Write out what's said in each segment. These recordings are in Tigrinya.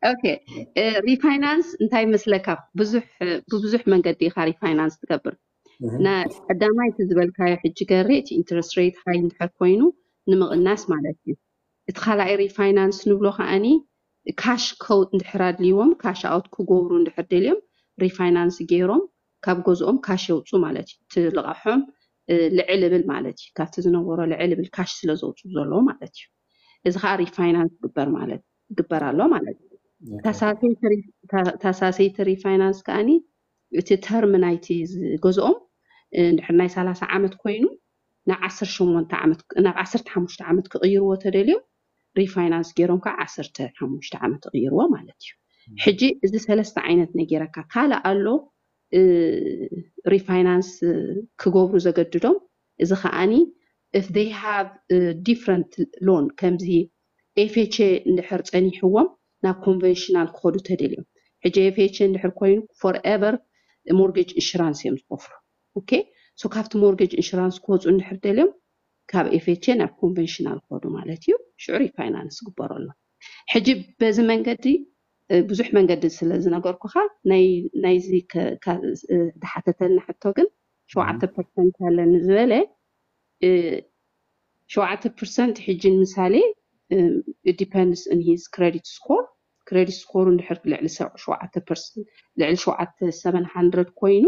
ኦኬ እ፣ ሪፋይናንስ እንታይ መስለካ ብዙሕ ብብዙሕ መንገዲ ኢኻ ሪፋይናንስ ትገብር እህ፣ ና ቀዳማይ እቲ ዝበልካዮ ሕጂ ገሬ እቲ ኢንትረስት ሬት ሃይ እንድሕር ኮይኑ ንምቕናስ ማለት እዩ እቲ ካልኣይ ሪፋይናንስ ንብሎ ከዓኒ ካሽ ከው እንድሕር ኣድልይዎም ካሽ ኣውት ክገብሩ እንድሕር ደልዮም ሪፋይናንስ ገይሮም ካብ ገዝኦም ካሽ የውፁ ማለት እዩ እቲ ልቓሖም እ፣ ልዕል እብል ማለት እዩ ካብቲ ዝነበሮ ልዕል እብል ካሽ ስለ ዘውፅኡ ዘለዎ ማለት እዩ እዚ ከዓ ሪፋይናንስ ግበር ማለት እዩ ይግበር ኣሎ ማለት እዩ። ታሳሰይቲ ሪፋይናንስ ከዓኒ እቲ ተርም ናይቲ ገዝኦም እንድሕር ናይ ሰላሳ ዓመት ኮይኑ ናብ ዓሰርተ ሸሞንተ ዓመት ናብ ዓሰርተ ሓሙሽተ ዓመት ክቕይርዎ ተደልዮም ሪፋይናንስ ገይሮም ከዓ ዓሰርተ ሓሙሽተ ዓመት ይቕይርዎ ማለት እዩ። ሕጂ እዚ ሰለስተ ዓይነት ነጌረካ ካልእ ኣሎ ሪፋይናንስ ክገብሩ ዘገድዶም እዚ ከዓኒ if they have different loan ከምዚ ኤፌቼ እንድሕር ጸኒሕዎም ናብ ኮንቨንሽናል ክኸዱ ተደልዮም ሕጂ ኤፌቼ እንድሕር ኮይኑ ፎር ኤቨር ሞርጌጅ ኢንሹራንስ እዮም ዝኸፍሉ ኦኬ ሶ ካብቲ ሞርጌጅ ኢንሹራንስ ክወጹ እንድሕር ደልዮም ካብ ኤፌቼ ናብ ኮንቨንሽናል ክኸዱ ማለት እዩ ሽዑ ሪፋይናንስ ግበረሎም ሕጂ በዚ መንገዲ ብዙሕ መንገዲ ስለ ዝነገርኩኻ ናይዚ ዝሓተተልና ሕቶ ግን ሸውዓተ ፐርሰንት ኣለኒ ዝበለ ሸውዓተ ፕርሰንት ሕጂ ንምሳሌ it depends in his credit score ክረዲት ስኮሩ እንድሕር ልዕሊ ሸውዓተ ፐርሰንት ልዕሊ ሸውዓተ ሰቨን ሃንድረድ ኮይኑ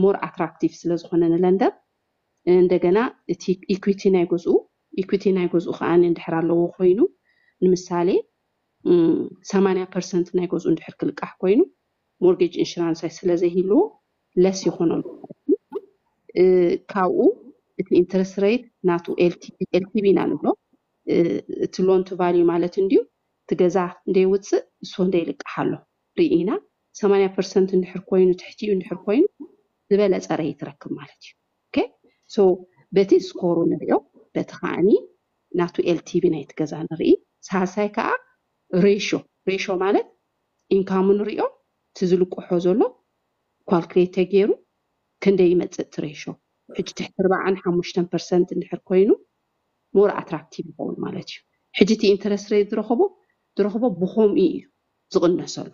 ሞር ኣትራክቲቭ ስለ ዝኾነ ንለንደር እንደገና እቲ ኢኩዊቲ ናይ ገዝኡ ኢኩዊቲ ናይ ገዝኡ ከዓ እንድሕር ኣለዎ ኮይኑ ንምሳሌ ሰማንያ ፐርሰንት ናይ ገዝኡ እንድሕር ክልቃሕ ኮይኑ ሞርጌጅ ኢንሹራንስ ስለዘይህልዎ ለስ ይኹኖም ካብኡ እቲ ኢንትረስት ረይት ናቱ ኤልቲቪ ኢና ንብሎ እቲ ሎን ቱ ቫልዩ ማለት እንድዩ እቲ ገዛ እንደ ውፅእ ንሱ እንደ ይልቃሕ ኣሎ ርኢና ሰማንያ ፐርሰንት እንድሕር ኮይኑ ትሕቲ እዩ እንድሕር ኮይኑ ዝበለፀ ረይት ትረክብ ማለት እዩ ኦኬ ሶ በቲ ስኮሩ ንሪኦ በቲ ከዓኒ ናቱ ኤልቲቪ ናይቲ ገዛ ንርኢ ሳልሳይ ከዓ ሬሾ ሬሾ ማለት ኢንካሙ ንሪኦ እቲ ዝልቅሖ ዘሎ ኳልክሌት ተገይሩ ክንደይ ይመፅእ እቲ ሬሾ ሕጂ ትሕቲ ርባዓን ሓሙሽተን ፐርሰንት እንድሕር ኮይኑ ሞር ኣትራክቲቭ ይኸውን ማለት እዩ ሕጂ እቲ ኢንተረስት ሬት ዝረኸቦ ዝረኽቦ ብኸምኡ እዩ ዝቕነሰሉ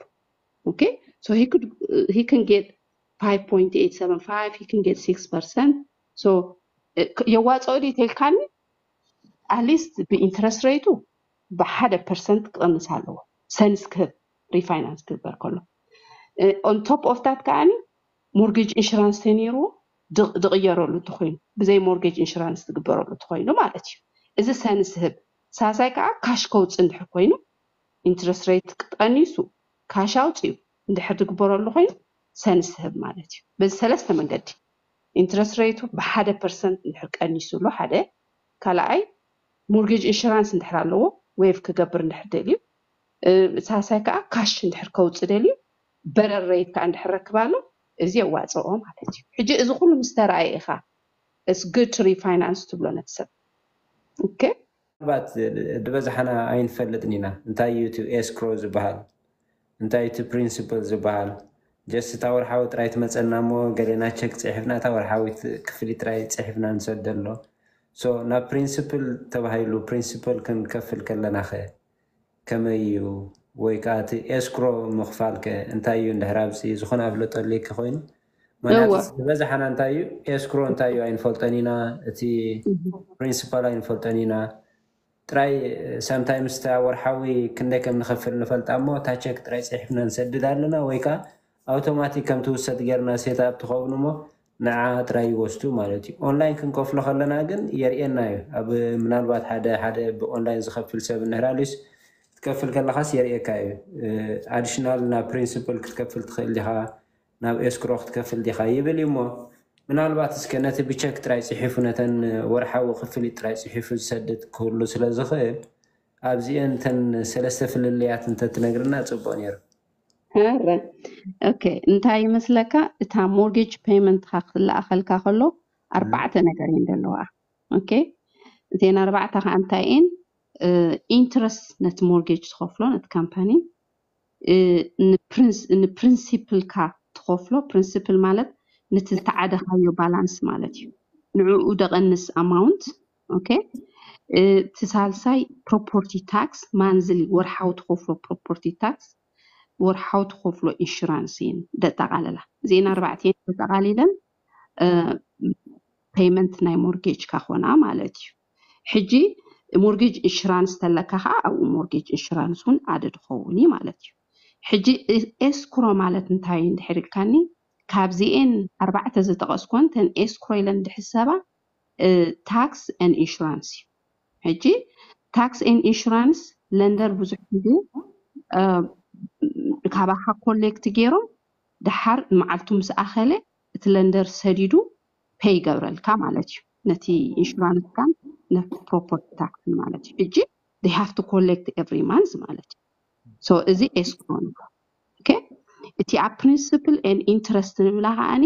ኦኬ ሶ ሂ ክድ ሂ ክን ጌት 5.875 ሂ ክን ጌት 6 ፐርሰንት ሶ የዋፅኦ ድዩ ተልካኒ ኣትሊስት ብኢንተረስት ሬቱ ብሓደ ፐርሰንት ክቕንስ ኣለዎ ሰንስ ክህብ ሪፋይናንስ ክግበር ከሎ ኦን ቶፕ ኦፍ ታት ከዓኒ ሞርጌጅ ኢንሹራንስ ተነይርዎ ድቕ- ድቕየረሉ እንተኾይኑ ብዘይ ሞርጌጅ ኢንሹራንስ ዝግበረሉ እንተኾይኑ ማለት እዩ እዚ ሰንስ ህብ ሳልሳይ ከዓ ካሽ ከውፅእ እንድሕር ኮይኑ ኢንትረስት ሬት ቀኒሱ ካሽ ኣውፅኡ እንድሕር ዝግበረሉ ኮይኑ ሰንስ ህብ ማለት እዩ በዚ ሰለስተ መንገዲ ኢንትረስት ሬቱ ብሓደ ፐርሰንት እንድሕር ቀኒሱሉ ሓደ ካልኣይ ሞርጌጅ ኢንሹራንስ እንድሕር ኣለዎ ዌቭ ክገብር እንድሕር ደልዩ ሳልሳይ ከኣ ካሽ እንድሕር ከውጽእ ደልዩ በረር ረይት ከኣ እንድሕር ረክብ ኣሎ እዚ የዋጽኦ ማለት እዩ ሕጂ እዚ ኩሉ ምስ ተራእየ ኢኻ it's good to refinance ትብሎ ነቲ ሰብ ok። ምናልባት ድበዝሓና ኣይንፈልጥን ኢና እንታይ እዩ እቲ ኤስክሮ ዝብሃል እንታይ እዩ እቲ ፕሪንስፕል ዝብሃል ጀስት እታ ወርሓዊ ጥራይ ትመጸና እሞ ገሌና ቸክ ጽሒፍና እታ ወርሓዊት ክፍሊት ጥራይ ጽሒፍና ንሰደሎ ሶ ናብ ፕሪንስፕል ተባሂሉ ፕሪንስፕል ክንከፍል ከለናኸ ከመይ እዩ ወይ ከኣ እቲ ኤስክሮ ምኽፋል ከ እንታይ እዩ እንድሕር ኣብዚ ዝኾነ ኣፍልጦ ኣልይኪ ኮይኑ ምኽንያቱ እወ ዝበዝሓና እንታይ እዩ ኤስክሮ እንታይ እዩ ኣይንፈልጦን ኢና እቲ ፕሪንሲፓል ኣይንፈልጦን ኢና ጥራይ ሳምታይምስ እታ ወርሓዊ ክንደይ ከም ንኸፍል ንፈልጣ እሞ እታ ቸክ ጥራይ ጽሒፍና ንሰድድ ኣለና ወይ ከኣ ኣውቶማቲክ ከም ትውሰድ ጌርና ሴት ኣፕ ትኸውን እሞ ንዓኣ ጥራይ ይወስዱ ማለት እዩ። ኦንላይን ክንከፍሎ ከለና ግን የርእየና እዩ። ኣብ ምናልባት ሓደ ሓደ ብኦንላይን ዝኸፍል ሰብ እንህላሉስ ክትከፍል ከለኻስ የርእየካ እዩ። ኣዲሽናል ናብ ፕሪንስፕል ክትከፍል ትኽእል ዲኻ፣ ናብ ኤስክሮ ክትከፍል ዲኻ ይብል እዩ እሞ ምናልባት እስከ ነቲ ብቸክ ጥራይ ጽሒፉ ነተን ወርሓዊ ክፍሊት ጥራይ ጽሒፉ ዝሰድድ ክህሉ ስለ ዝኽእል ኣብዚኤን እተን ሰለስተ ፍልልያት እንተትነግርና ጽቡቕ ነይሩ። ኣረ ኦኬ እንታይ ይመስለካ እታ ሞርጌጅ ፔመንትካ ክትለኣኸልካ ከሎ ኣርባዕተ ነገር እየን ዘለዋ ኦኬ እተን ኣርባዕተ ከዓ እንታይ እየን ኢንትረስት ነቲ ሞርጌጅ ትኸፍሎ ነቲ ካምፓኒ እ፣ ንፕሪንስ- ንፕሪንሲፕልካ ትኸፍሎ ፕሪንሲፕል ማለት ነቲ ዝተዓደኻዮ ባላንስ ማለት እዩ ንዕኡ ደቐንስ ኣማውንት ኦኬ እቲ ሳልሳይ ፕሮፖርቲ ታክስ ማንዝሊ ወርሓዊ ትኸፍሎ ፕሮፖርቲ ታክስ ወርሓዊ ትኸፍሎ ኢንሹራንስ እየን ደጠቓለላ እዚኤን ኣርባዕተ እየን ተጠቓሊለን ፔይመንት ናይ ሞርጌጅካ ኮና ማለት እዩ ሕጂ ሞርጌጅ ኢንሹራንስ ተለካ ከዓ ኣብኡ ሞርጌጅ ኢንሹራንስ እውን ኣደድ ኸውን እዩ ማለት እዩ ሕጂ ኤስኩሮ ማለት እንታይ እዩ እንድሕር ኢልካኒ ካብዚኤን ኣርባዕተ ዝጠቐስኮን ተን ኤስኩሮ ኢለን ዝሕሰባ ታክስ ኤን ኢንሹራንስ እዩ ሕጂ ታክስ ኤን ኢንሹራንስ ለንደር ብዙሕ ግዜ ካባካ ኮሌክት ገይሮም ደሓር መዓልቱ ምስ ኣኸለ እቲ ለንደር ሰዲዱ ፔይ ይገብረልካ ማለት እዩ ነቲ ኢንሹራንስካን ነቲ ፕሮፐርቲ ታክስን ማለት እዩ ሕጂ they have to collect every month ማለት እዩ ሶ እዚ ኤስክሮ ንብሎ ኦኬ እቲ ኣብ ፕሪንስፕል ኤን ኢንትረስት ንብላ ከዓኒ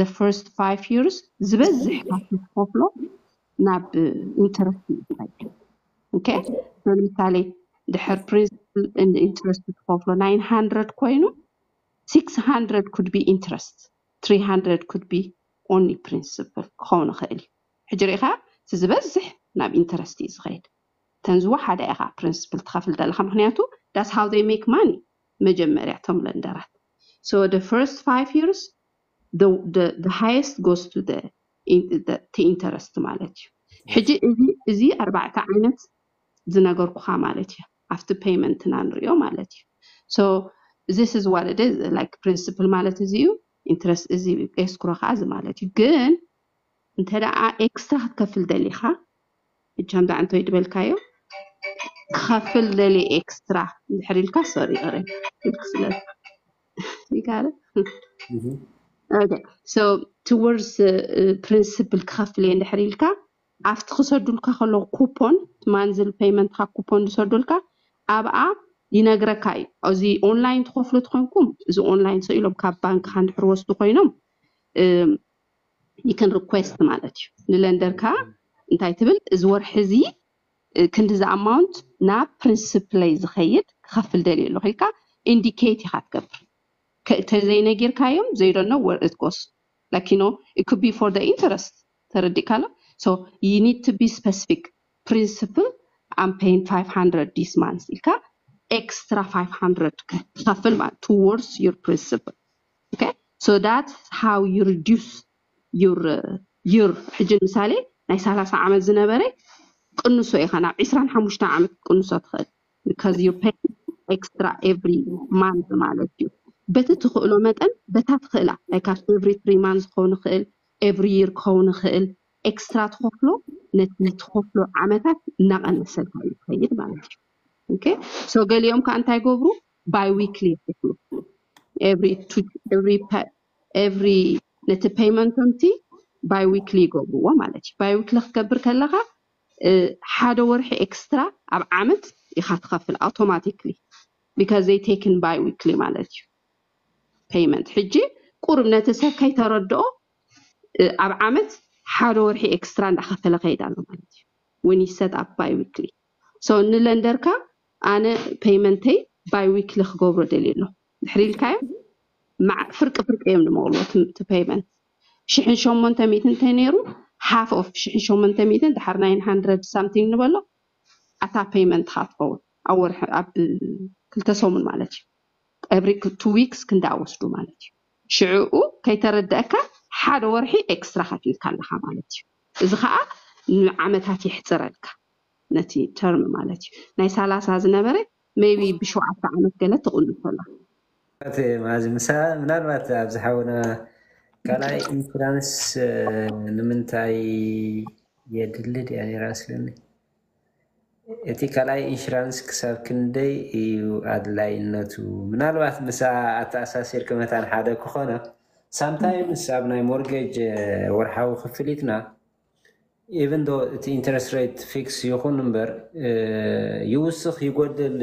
the first five years ዝበዝሕ ካብቲ ትኸፍሎ ናብ ኢንተረስት እዩ ዝኸይድ ኦኬ so ንምሳሌ ድሕር ፕሪንሲፕል and ኢንተረስት ትኸፍሎ 900 ኮይኑ 600 could be interest 300 could be only principle ክኸውን ይኽእል እዩ ሕጂ ርኢኻ እቲ ዝበዝሕ ናብ ኢንተረስት እዩ ዝኸይድ እተን ዝወሓዳ ኢኻ ፕሪንስፕል ትኸፍል ዘለኻ ምክንያቱ ዳስ ሃው ዘይ ሜክ ማኒ መጀመርያ እቶም ለንደራት so the first five years the highest goes to the እቲ interest ማለት እዩ ሕጂ Yes. እዚ እዚ ኣርባዕተ ዓይነት ዝነገርኩኻ ማለት እዩ ኣብቲ payment እና ንሪኦ ማለት እዩ so this is what it is like principle ማለት እዚ እዩ interest እዚ እዩ escrow ከዓ እዚ ማለት እዩ ግን እንተ ደኣ ኤክስትራ ክትከፍል ደሊኻ ሕጂ ከምዚ ዓንተ ወይ ዝበልካዮ ክኸፍል ደልየ ኤክስትራ እንድሕር ኢልካ ሶሪ ኦረ ኢልክ ስለ you got it? Mhm. Okay. So towards the uh, principal ክኸፍል እየ እንድሕር ኢልካ ኣብቲ ክሰዱልካ ከለዉ ኩፖን ማንዝል ፔይመንትካ ኩፖን ዝሰዱልካ ኣብኣ ይነግረካ እዩ እዚ ኦንላይን ትኸፍሉ ትኾንኩም እዚ ኦንላይን ሰው ኢሎም ካብ ባንክካ እንድሕር ወስዱ ኮይኖም እም፣ you can request ማለት እዩ ንለንደርካ እንታይ ትብል እዚ ወርሒ እዚ ክንድዚ ኣማውንት ናብ ፕሪንስፕለይ ዝኸይድ ክኸፍል ደልየ ኣለኹ ኢልካ ኢንዲኬት ኢኻ ትገብር ተዘይነጊርካዮም ዘይ ዶንት ኖው ወር ኢት ጎስ ላይክ ዩ ኖው ኢት ኩድ ቢ ፎር ዘ ኢንተረስት ተረዲእካ ኣሎ ሶ ዩ ኒድ ቱ ቢ ስፐሲፊክ ፕሪንስፕል ኣም ፔይን ፋይቭ ሃንድረድ ዲስ ማንስ ኢልካ ኤክስትራ ፋይቭ ሃንድረድ ክኸፍል ማለት ቱዎርድስ ዩር ፕሪንስፕል ኦኬ ሶ ዳትስ ሃው ዩ ሪዲዩስ ዩር ዩር ሕጂ ምሳሌ ናይ ሰላሳ ዓመት ዝነበረ ቅንሶ ኢኻ ናብ ዕስራን ሓሙሽተን ዓመት ክትቅንሶ ትኽእል because you pay extra every month ማለት እዩ በቲ ትኽእሎ መጠን በታ ትኽእላ ናይ ካብ every three months ክኸውን ይኽእል every year ክኸውን ይኽእል ኤክስትራ ትኸፍሎ ነቲ ትኸፍሎ ዓመታት እናቐነሰልካ እዩ ዝኸይድ ማለት እዩ ኦኬ ሶ ገሊኦም ከዓ እንታይ ገብሩ ባይ ዊክሊ ይከፍሉ ኤቭሪ ኤቭሪ ኤቭሪ ነቲ ፐይመንቶምቲ ባይ ዊክሊ ይገብርዎ ማለት እዩ ባይ ዊክሊ ክትገብር ከለኻ ሓደ ወርሒ ኤክስትራ ኣብ ዓመት ኢኻ ትኸፍል ኣውቶማቲክሊ ቢካዝ ዘይ ቴክን ባይ ዊክሊ ማለት እዩ ፐይመንት ሕጂ ቁርብ ነቲ ሰብ ከይተረድኦ ኣብ ዓመት ሓደ ወርሒ ኤክስትራ እንዳኸፈለ ከይድ ኣሎ ማለት እዩ ውን ይሰት ኣፕ ባይ ዊክሊ ሶ ንለንደርካ ኣነ ፐይመንተይ ባይ ዊክሊ ክገብሮ ደልየ ኣለኹ ድሕሪ ኢልካዮም መዓ ፍርቂ ፍርቂ እዮም ድመቕልዎ እቲ እቲ ፐይመንት ሽሕን ሸሞንተ ሚእትን እንተነይሩ ሓፍ ኦፍ ሽሕን ሸሞንተ ሚእትን ድሓር ናይን ሃንድረድ ሳምቲንግ ንበሎ ኣታ ፐይመንትኻ ትኸውን ኣብ ወርሒ ኣብ ክልተ ሰሙን ማለት እዩ ኤቭሪ ቱ ዊክስ ክንደኣ ወስዱ ማለት እዩ ሽዕኡ ከይተረደአካ ሓደ ወርሒ ኤክስትራ ከፊልካ ኣለኻ ማለት እዩ እዚ ከዓ ንዓመታት የሕፅረልካ ነቲ ተርም ማለት እዩ ናይ ሳላሳ ዝነበረ ሜይቢ ብሸውዓተ ዓመት ገለ ትቕንሶላ። ኣቶ መኣዝ ምሳ ምናልባት ኣብዚ ሓውና ካልኣይ ኢንሹራንስ ንምንታይ የድሊ ድያ ነይራ መስለኒ እቲ ካልኣይ ኢንሹራንስ ክሳብ ክንደይ እዩ ኣድላይነቱ ምናልባት ምሳ ኣተኣሳሲርኪ መታን ሓደ ክኾና ሳምታይምስ ኣብ ናይ ሞርጌጅ ወርሓዊ ክፍሊትና ኢቭን ዶ እቲ ኢንተረስት ሬት ፊክስ ይኹን እምበር ይውስኽ ይጎድል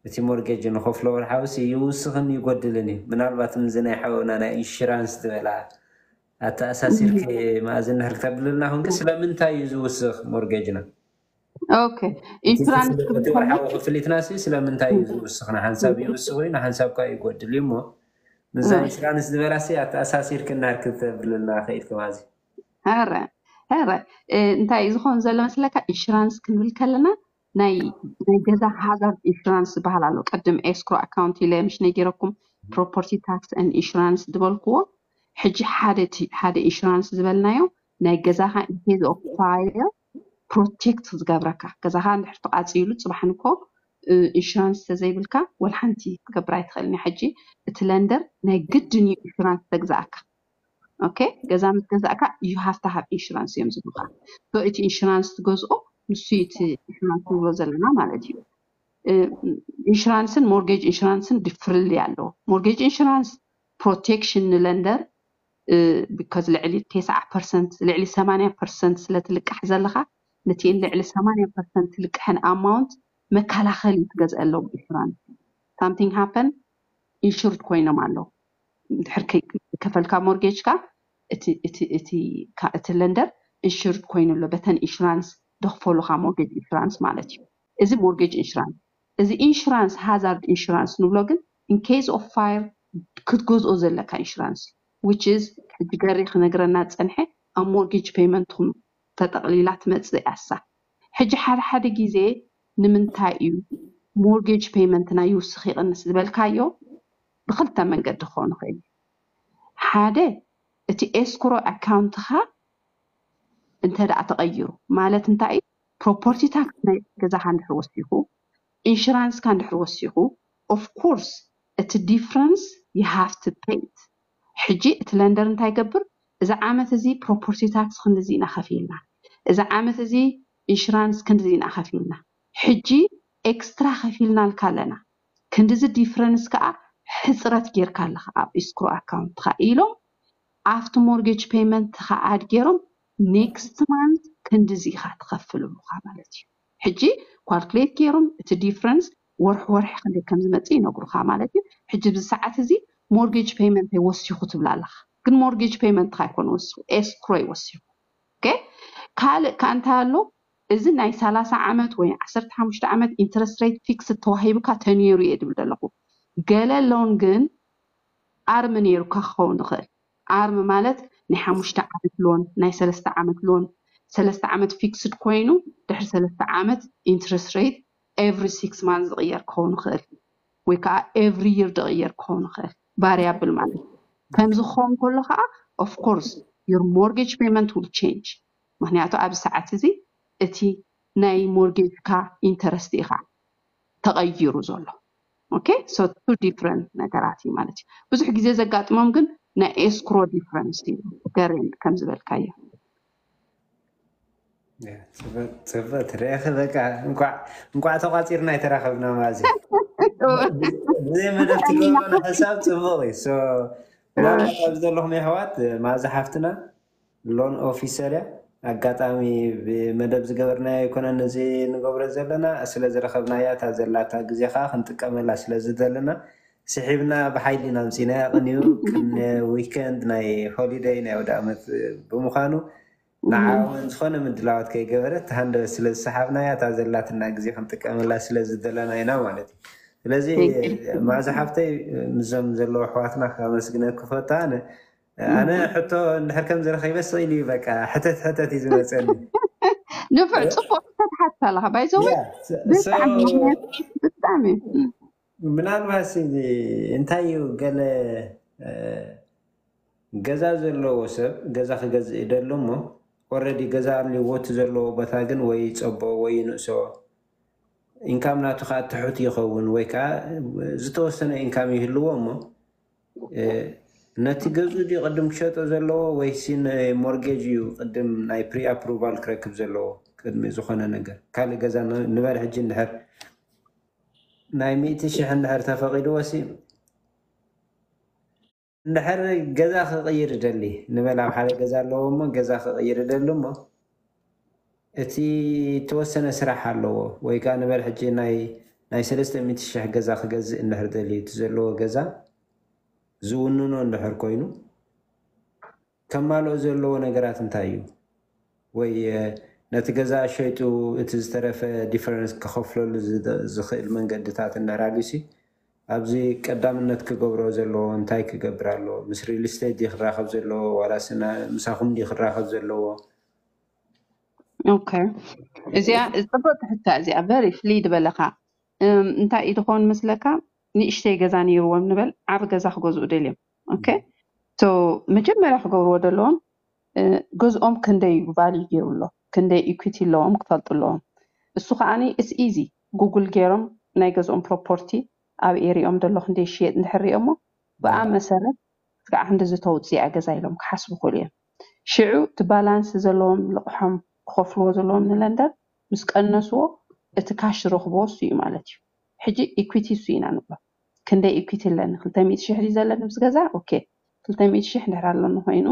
እቲ ሞርጌጅ ንኸፍሎ ወርሓዊሲ ይውስኽን ይጎድልን እዩ። ምናልባት ምዚ ናይ ሓውና ናይ ኢንሹራንስ ዝበላ ኣተኣሳሲርኪ መኣዝ እንድሕር ክተብልልና ኮንኪ ስለምንታይ እዩ ዝውስኽ ሞርጌጅና? ኦኬ ኢንሹራንስ እቲ ወርሓዊ ክፍሊትና ሲ ስለምንታይ እዩ ዝውስኽ? ንሓንሳብ ይውስኽ እዩ ንሓንሳብ ኳ ይጎድል እዩ እሞ ምዛ ኢንሹራንስ ዝበላ ሲ ኣተኣሳሲርኪ እንድሕር ክተብልልና ክኢልኪ መኣዝ እዩ? ኧረ ኧረ እንታይ እዩ ዝኾን ዘሎ መስለካ ኢንሹራንስ ክንብል ከለና ናይ ናይ ገዛ ሃዛርድ ኢንሹራንስ ዝበሃል ኣሎ ቅድም ኤስክሮ ኣካውንት ኢለ ምሽ ነጊረኩም ፕሮፐርቲ ታክስ ን ኢንሹራንስ ዝበልክዎ ሕጂ ሓደ እቲ- ሓደ ኢንሹራንስ ዝበልናዮ ናይ ገዛኻ ኢንኬዝ ኦፍ ፋየር ፕሮቴክት ዝገብረካ ገዛኻ እንድሕር ተቃፂሉ ፅባሕ ንኮ እ፣ ኢንሹራንስ ተዘይብልካ ወላ ሓንቲ ክትገብር ኣይትኽእልን እያ ሕጂ እቲ ለንደር ናይ ግድን እዩ ኢንሹራንስ ተግዛኣካ ኦኬ ገዛ ምስ ገዛእካ ዩ ሃቭ ቱ ሃቭ ኢንሹራንስ እዮም ዝብሉካ ሶ እቲ ኢንሹራንስ ትገዝኦ ንሱ እዩ እቲ ኢንሹራንስ ንብሎ ዘለና ማለት እዩ እ፣ ኢንሹራንስን ሞርጌጅ ኢንሹራንስን ድፍርልይ ኣለዎ ሞርጌጅ ኢንሹራንስ ፕሮቴክሽን ንለንደር ቢካዝ ልዕሊ ቴስዓ ፐርሰንት ልዕሊ ሰማንያ ፐርሰንት ስለ ትልቃሕ ዘለኻ ነቲኤን ልዕሊ ሰማንያ ፐርሰንት ትልቅሐን ኣማውንት መከላኸሊ ትገዝአሎም ኢንሹራንስ ሳምቲንግ ሃፐን ኢንሹርድ ኮይኖም ኣለዉ ድሕር ከይከፈልካ ሞርጌጅካ እቲ እቲ እቲ ካ እቲ ለንደር ኢንሹርድ ኮይኑ ኣሎ በተን ኢንሹራንስ ደኽፈሉኻ ሞርጌጅ ኢንሹራንስ ማለት እዩ እዚ ሞርጌጅ ኢንሹራንስ እዚ ኢንሹራንስ ሃዛርድ ኢንሹራንስ ንብሎ ግን ኢን ኬዝ ኦፍ ፋየር ክትገዝኦ ዘለካ ኢንሹራንስ እዩ which is ሕጂ ገሪ ክነግረና ዝጸንሐ ኣብ ሞርጌጅ ፔይመንትኩም ተጠቕሊላ ትመጽእ እያ እሳ ሕጂ ሓደ ሓደ ግዜ ንምንታይ እዩ ሞርጌጅ ፔይመንትና ይውስኽ ይቕንስ ዝበልካዮ ብኽልተ መንገዲ ክኾን ይኽእል እዩ። ሓደ እቲ ኤስክሮ ኣካውንትኻ እንተድኣ ተቐይሩ ማለት እንታይ እዩ ፕሮፖርቲ ታክስ ናይ ገዛኻ እንድሕር ወሲኹ ኢንሹራንስካ እንድሕር ወሲኹ ኦፍ ኮርስ እቲ ዲፍረንስ ዩ ሃቭ ቱ ፔይ ኢት ሕጂ እቲ ለንደር እንታይ ይገብር እዚ ዓመት እዚ ፕሮፖርቲ ታክስ ክንድዚ ኢና ከፊልና እዚ ዓመት እዚ ኢንሹራንስ ክንድዚ ኢና ከፊልና ሕጂ ኤክስትራ ከፊልናልካ ኣለና ክንድዚ ዲፍረንስ ከኣ ሕጽረት ጌርካ ኣለኻ ኣብ ኢስክሮ ኣካውንትካ ኢሎም ኣብቲ ሞርጌጅ ፔመንትካ ኣድ ጌሮም ኔክስት ማንት ክንድዚ ኢኻ ትኸፍል እሉኻ ማለት እዩ ሕጂ ኳልኩሌት ጌሮም እቲ ዲፍረንስ ወርሒ ወርሒ ክንደይ ከም ዝመጽእ ይነግሩኻ ማለት እዩ ሕጂ ብዚ ሰዓት እዚ ሞርጌጅ ፔመንተይ ወሲኹ ትብል ኣለኻ ግን ሞርጌጅ ፔመንትካ ኣይኮነ ወሲኹ ኤስክሮ እዩ ወሲኹ ኦኬ ካልእ ከኣ እንታይ ኣሎ እዚ ናይ ሰላሳ ዓመት ወይ ዓሰርተ ሓሙሽተ ዓመት ኢንተረስት ሬት ፊክስድ ተዋሂቡካ ተንየሩ እየ ድብል ደለኹ። ገለ ሎን ግን ኣርም ነይሩካ ክኸውን ይኽእል። ኣርም ማለት ናይ ሓሙሽተ ዓመት ሎን፣ ናይ ሰለስተ ዓመት ሎን፣ ሰለስተ ዓመት ፊክስድ ኮይኑ ድሕሪ ሰለስተ ዓመት ኢንተረስት ሬት ኤቭሪ ሲክስ ማንዝ ዝቕየር ክኸውን ይኽእል ወይ ከኣ ኤቭሪ ይር ድቕየር ክኸውን ይኽእል። ቫርያብል ማለት እዩ። ከምዚ ክኸውን ከሎ ከኣ ኦፍ ኮርስ ዩር ሞርጌጅ ፔመንት ዊል ቼንጅ። ምክንያቱ ኣብዚ ሰዓት እዚ እቲ ናይ ሞርጌጅካ ኢንተረስት ኢካ ተቀይሩ ዘሎ ኦኬ ሶ ቱ ዲፍረንት ነገራት እዩ ማለት እዩ ብዙሕ ግዜ ዘጋጥሞም ግን ናይ ኤስክሮ ዲፍረንስ እዩ ገሬን ከም ዝበልካዮ ፅብቅ ትረኢኺ በቃ እንኳዕ ተቋፂርና የተራኸብና ማዚ ብዘይ መደብ ትገብሮ ሕሳብ ፅቡቅ እዩ ናብዚ ዘለኹም የሕዋት ማዚ ሓፍትና ሎን ኦፊሰር እያ ኣጋጣሚ ብመደብ ዝገበርናዮ ኣይኮነን እዚ ንገብሮ ዘለና ስለዝረኸብናያ እታ ዘላታ ግዜ ከኣ ክንጥቀመላ ስለዝደለና ስሒብና ብሓይሊ ኢና ኣምጺእናያ ቅንዩ ቅነ ዊከንድ ናይ ሆሊደይ ናይ ኣውደኣመት ብምዃኑ ንዓ ውን ዝኾነ ምድላዋት ከይገበረት ተሃንደበት ስለዝሰሓብናያ እታ ዘላትና ግዜ ክንጥቀመላ ስለዝደለና ኢና ማለት እዩ ስለዚ ማእዛ ሓፍተይ ምስዞም ዘለዉ ኣሕዋትና ከመስግነኪ ፈቱ ኣነ ኣነ ሕቶ እንድሕር ከምዚ ረኺበ ስቕ ኢሉ እዩ በቃ ሕተት ሕተት እዩ ዝመፀኒ ንፍዕ ፅቡቅ ተትሓትት ኣለካ ባይዘወ ያ ስ- ደስ ሶ በሃሊ ምክንያት ብጣዕሚ እም። ምናልባት እዚ እንታይ እዩ ገለ እ፣ ገዛ ዘለዎ ሰብ ገዛ ክገዝእ ይደሎ እሞ ኦልሬዲ ገዛ ኣልዎ እቲ ዘለዎ ቦታ ግን ወይ ይፀቦ ወይ ይንእሶ ኢንካም ናቱ ከዓ ትሑት ይኸውን ወይ ከዓ ዝተወሰነ ኢንካም ይህልዎ እሞ ነቲ ገዝኡ ድዩ ቅድም ክሸጦ ዘለዎ ወይሲ ሞርጌጅ እዩ ቅድም ናይ ፕሪ ኣፕሩቫል ክረክብ ዘለዎ ቅድሚ ዝኾነ ነገር ካልእ ገዛ ንበል ሕጂ እንድሕር ናይ ሚእቲ ሽሕ እንድሕር ተፈቂድዎ ሲ እንድሕር ገዛ ክቕይር ይደሊ ንበል ኣብ ሓደ ገዛ ኣለዎ እሞ ገዛ ክቕይር ይደሊ እሞ እቲ እተወሰነ ስራሕ ኣለዎ ወይ ከኣ ንበል ሕጂ ናይ ናይ ሰለስተ ሚእቲ ሽሕ ገዛ ክገዝእ እንድሕር ደልዩ እቲ ዘለዎ ገዛ ዝውንኖ እንድሕር ኮይኑ ከማልኦ ዘለዎ ነገራት እንታይ እዩ ወይ ነቲ ገዛ ሸይጡ እቲ ዝተረፈ ዲፈረንስ ክኸፍለሉ ዝኽእል መንገድታት እንድሕር ኣልዩሲ ኣብዚ ቀዳምነት ክገብሮ ዘለዎ እንታይ ክገብር ኣለዎ ምስ ሪል ስቴት ድዩ ክራኸብ ዘለዎ ዋላስ ምሳኹም ድዩ ክራኸብ ዘለዎ ኦከ እዚኣ ጽብቕቲ ሕታ እዚኣ በሪ ፍልይ ዝበለኻ እም፣ እንታይ እዩ ዝኾን መስለካ ንእሽተይ ገዛ ነይርዎም ንበል ዓቢ ገዛ ክገዝኡ ደልዮም ኦከ ሶ መጀመርያ ክገብርዎ ዘለዎም እ፣ ገዝኦም ክንደይ እዩ ቫልዩ ገይሩ ኣሎ ክንደይ ኢኩቲ ኣለዎም ክፈልጡ ኣለዎም እሱ ከዓኒ ኢትስ ኢዚ ጉግል ገይሮም ናይ ገዝኦም ፕሮፖርቲ ኣብ ኤሪኦም ዘሎ ክንደይ ይሽየጥ እንድሕር ሪኦሞ ብኣ መሰረት ክሳዕ ክንድዚ ተውጽእ እያ ገዛ ኢሎም ክሓስቡ ይኽእሉ እዮም ሽዑ እቲ ባላንስ ዘለዎም ልቕሖም ክኸፍልዎ ዘለዎም ንለንደር ምስ ቀነስዎ እቲ ካሽ ዝረኽብዎ እሱ እዩ ማለት እዩ። ሕጂ ኢኲቲ እሱ ኢና ንብሎ። ክንደይ ኢኲቲ ኣለኒ ክልተ ሚእቲ ሽሕ ድዩ ዘለኒ ምስ ገዛ ኦኬ ክልተ ሚእቲ ሽሕ እንድሕር ኣሎኒ ኮይኑ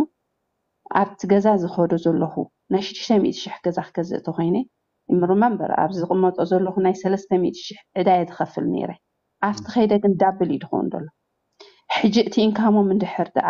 ኣብቲ ገዛ ዝኸዶ ዘለኹ ናይ ሽዱሽተ ሚእቲ ሽሕ ገዛ ክገዝእ እንተኾይነ ሪመምበር ኣብዚ ዝቕመጦ ዘለኹ ናይ ሰለስተ ሚእቲ ሽሕ ዕዳ እየ ዝኸፍል ነይረ። ኣብቲ ከይደ ግን ዳብል እዩ ዝኸውን ዘሎ። ሕጂ እቲ ኢንካሞም እንድሕር ደኣ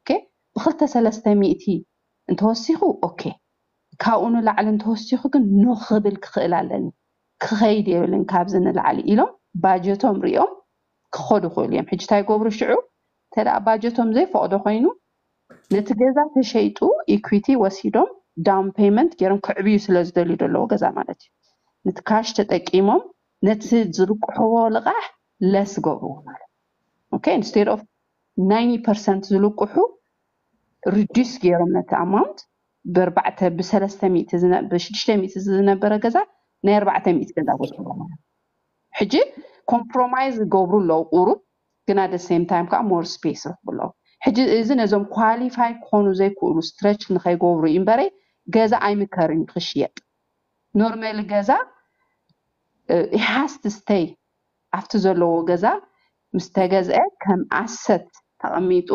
ኦኬ ብክልተ ሰለስተ ሚእቲ እንተወሲኹ ኦኬ ካብኡ ንላዕሊ እንተወሲኹ ግን ኖ ክብል ክኽእል ኣለኒ ክኸይድ የብልን ካብዚ ንላዕሊ ኢሎም ባጀቶም ሪኦም ክኸዱ ይኽእሉ እዮም ሕጂ ታይ ይገብሩ ሽዑ እንተደኣ ባጀቶም ዘይፈቕዶ ኮይኑ ነቲ ገዛ ተሸይጡ ኢኩዊቲ ወሲዶም ዳውን ፔይመንት ገይሮም ከዕብዩ ስለ ዝደልዩ ዘለዎ ገዛ ማለት እዩ ነቲ ካሽ ተጠቂሞም ነቲ ዝልቅሕዎ ልቓሕ ለስ ገብርዎ ማለት ኦኬ ኢንስቴድ ኦፍ ናይኒ ፐርሰንት ዝልቁሑ ርዲስ ገይሮም ነቲ ኣማውንት ብኣርባዕተ ብሰለስተ ሚእቲ ብሽዱሽተ ሚእቲ ዝነበረ ገዛ ናይ ኣርባዕተ ሚእቲ ገዛ ገይሮሞ ማለት ሕጂ ኮምፕሮማይዝ ዝገብሩ ኣለዉ ቁሩብ ግን ኣደ ሴም ታይም ከዓ ሞር ስፔስ ይረኽቡ ኣለዉ ሕጂ እዚ ነዞም ኳሊፋይ ክኾኑ ዘይክእሉ ስትረች ንኸይገብሩ እዩ እምበረይ ገዛ ኣይምከርን እዩ ክሽየጥ ኖርማሊ ገዛ ሃስት ስተይ ኣብቲ ዘለዎ ገዛ ምስ ተገዝአ ከም ኣሰት ተቐሚጡ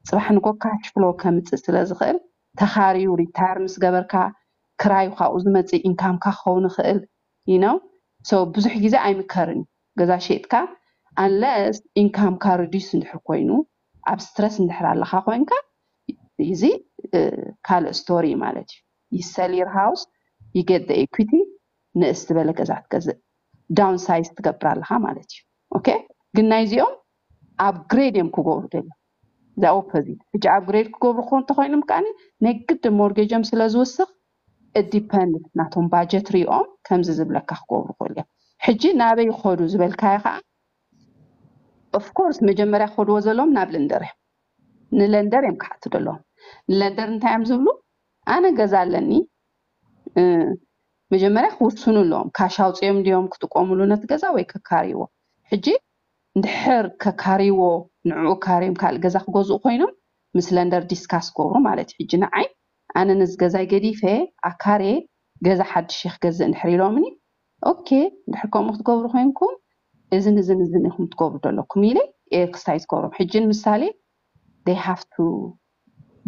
ፅባሕ ንኮ ካሽ ፍሎ ከምፅእ ስለ ዝኽእል ተኻርዩ ሪታየር ምስ ገበርካ ክራዩ ካብኡ ዝመፅእ ኢንካምካ ክኸውን ይኽእል you know so ብዙሕ ግዜ ኣይምከርን እዩ ገዛ ሸይጥካ unless ኢንካምካ reduce እንድሕር ኮይኑ ኣብ ስትረስ እንድሕር ኣለኻ ኮይንካ እዚ ካልእ ስቶሪ እዩ ማለት እዩ you sell your house you get the equity ንእስ ዝበለ ገዛ ክትገዝእ ዳውን ሳይዝ ትገብር ኣለኻ ማለት እዩ ኦኬ ግን ናይዚኦም ኣብ ግሬድ እዮም ክገብሩ ደልዮም እዛ ኦፖዚት ሕጂ ኣብ ግሬድ ክገብሩ ክኾን እንተኮይኖም ከዓኒ ናይ ግድ ሞርጌጆም ስለ ዝውስኽ ዲፐንድ ናቶም ባጀት ሪኦም ከምዚ ዝብለካ ክገብሩ ክእሉ እዮም ሕጂ ናበይ ይኸዱ ዝበልካዮ ከዓ ኦፍኮርስ መጀመርያ ክኸድዎ ዘለዎም ናብ ለንደር እዮም ንለንደር እዮም ክሓቱ ደለዎም ንለንደር እንታይ እዮም ዝብሉ ኣነ ገዛ ኣለኒ መጀመርያ ክውስኑ ኣለዎም ካሽ ኣውፂኦም ድዮም ክጥቆምሉ ነቲ ገዛ ወይ ከካርይዎ ሕጂ እንድሕር ከካርይዎ ንዕኡ ካርዮም ካልእ ገዛ ክገዝኡ ኮይኖም ምስ ለንደር ዲስካስ ክገብሩ ማለት እዩ ሕጂ ንዓይ ኣነ ነዚ ገዛይ ገዲፈ ኣካርየ ገዛ ሓድሽ እየ ክገዝእ እንድሕር ኢሎምኒ ኦኬ እንድሕር ከምኡ ክትገብሩ ኮይንኩም እዝን እዝን እዝን ኢኹም ትገብሩ ዘለኩም ኢለ ክስታይ ዝገብሮም ሕጂ ንምሳሌ they have to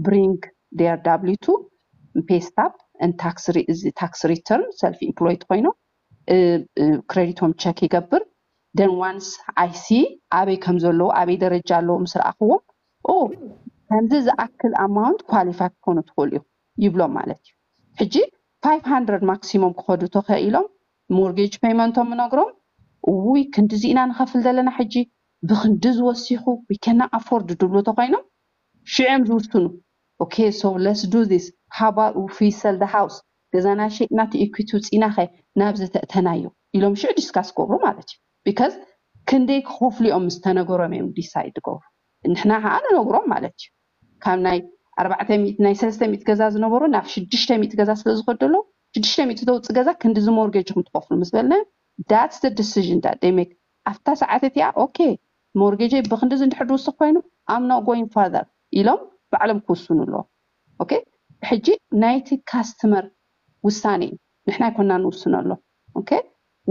ብሪንግ ዴር ዳብሊው ቱ ን ፔይ ስታፕ ን ታክስ ሪተርን ሰልፍ ኢምፕሎይድ ኮይኖም ክረዲቶም ቸክ ይገብር ደን ዋንስ ኣይሲ ኣበይ ከም ዘለዉ ኣበይ ደረጃ ኣለዉ ምስ ረኣኽዎም ኦ ከምዚ ዝኣክል ኣማውንት ኳሊፋይ ክኾኑ ትኽእሉ ኢኹም ይብሎም ማለት እዩ ሕጂ 500 ማክሲሞም ክኸዱ ተኸኢሎም ሞርጌጅ ፔይመንቶም ምነግሮም እውይ ክንድዚ ኢና ንኸፍል ዘለና ሕጂ ብክንድዚ ወሲኹ ዊከና ኣፎርድ ድብሉ ተኾይኖም ሽዕም ዝውስኑ ኦኬ ሶ ለስ ዱ ዚስ ሃባብ እፍ ዊ ሰል ዘ ሃውስ ገዛና ሸጥና እቲ ኢኩቲ ውጺእና ከ ናብ ዘተእተናዮ ኢሎም ሽዑ ዲስካስ ክገብሩ ማለት እዩ ቢከዝ ክንደይ ክከፍሉ እዮም ምስ ተነገሮም እዮም ዲሳይድ ዝገብሩ ንሕና ከኣ ንነግሮም ማለት እዩ ካብ ናይ ኣርባዕተ ሚእቲ ናይ ሰለስተ ሚእቲ ገዛ ዝነበሩ ናብ ሽዱሽተ ሚእቲ ገዛ ስለ ዝከድ ዘሎ ሽዱሽተ ሚእቲ ተውጽእ ገዛ ክንድዚ ሞርጌጅ ኢኩም ትከፍሉ ምስ በልናዮም ዳትስ ዘ ዲሲዥን ዳት ዘይ ሜክ ኣብታ ሰዓት እቲኣ ኦኬ ሞርጌጀይ ብክንድዚ እንድሕር ድውስኽ ኮይኑ ኣም ኖት ጎይንግ ፋርዘር ኢሎም ባዕሎም ክውስኑ ኣለዎም ኦኬ ሕጂ ናይቲ ካስትመር ውሳኔ እዩ ንሕና ኣይኮናን ንውስነሎም ኦኬ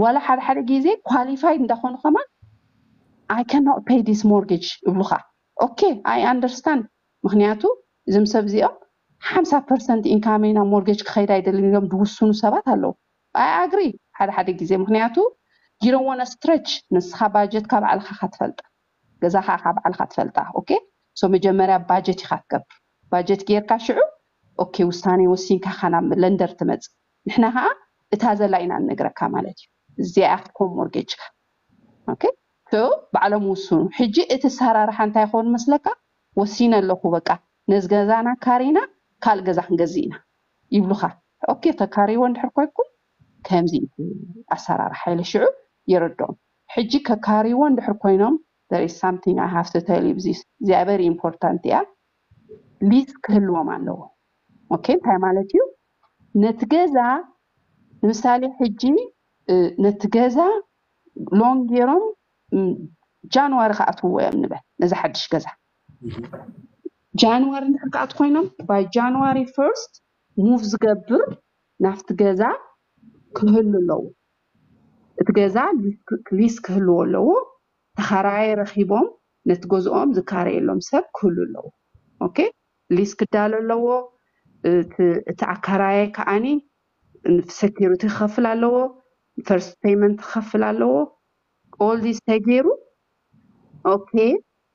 ዋላ ሓደ ሓደ ግዜ ኳሊፋይድ እንዳኾኑ ከማን ኣይ ካኖት ፔይ ዲስ ሞርጌጅ እብሉኻ ኦኬ ኣይ ኣንደርስታንድ ምክንያቱ እዞም ሰብ እዚኦም ሓምሳ ፐርሰንት ኢንካመይ ናብ ሞርጌጅ ክኸይድ ኣይደልን ኢሎም ድውስኑ ሰባት ኣለዉ I agree ሓደ ሓደ ግዜ ምኽንያቱ you don't wanna stretch ንስኻ ባጀትካ ባዕልኻ እኻ ትፈልጣ ገዛኻ እኻ ባዕልኻ ትፈልጣ ok so መጀመርያ ባጀት ኢኻ ትገብር ባጀት ጌርካ ሽዑ ok ውሳኔ ወሲንካ እኻ ናብ ለንደር ትመጽእ ንሕና ኸኣ እታ ዘላ ኢና ንነግረካ ማለት እዩ እዚኣ እያ ክትኮን ሞርጌጅካ ok so ባዕሎም ይውስኑ ሕጂ እቲ ኣሰራርሓ እንታይ ይኸውን መስለካ ወሲነ ኣለኹ በቃ ነዚ ገዛና ኣካሪና ካልእ ገዛ ክንገዝእ ኢና ይብሉኻ ኦኬ ከካርይዎ እንድሕር ኮይንኩም ከምዚ እዩ ኣሰራርሓ ኢለ ሽዑ የረድኦም ሕጂ ከካርይዎ እንድሕር ኮይኖም there is something I have to tell you this እዚኣ very important እያ ሊዝ ክህልዎም ኣለዎ ኦኬ እንታይ ማለት እዩ ነቲ ገዛ ንምሳሌ ሕጂ እ፣ ነቲ ገዛ ሎን ገይሮም ም፣ ጃንዋሪ ክኣትውዎ እዮም ንበል ነዚ ሓድሽ ገዛ ጃንዋሪ እንድሕር ክኣትዉ ኮይኖም ባይ ጃንዋሪ ፈርስት ሙቭ ዝገብር ናብቲ ገዛ ክህሉ ኣለዎ እቲ ገዛ ሊስ ክህልዎ ኣለዎ ተኻራይ ረኺቦም ነቲ ገዝኦም ዝካረየሎም ሰብ ክህሉ ኣለዎ ኦኬ ሊስ ክዳሎ ኣለዎ እቲ ኣካራየ ከዓኒ ሴኪሪቲ ክኸፍል ኣለዎ ፈርስት ፔመንት ክኸፍል ኣለዎ ኦል ዲስ ተገይሩ ኦኬ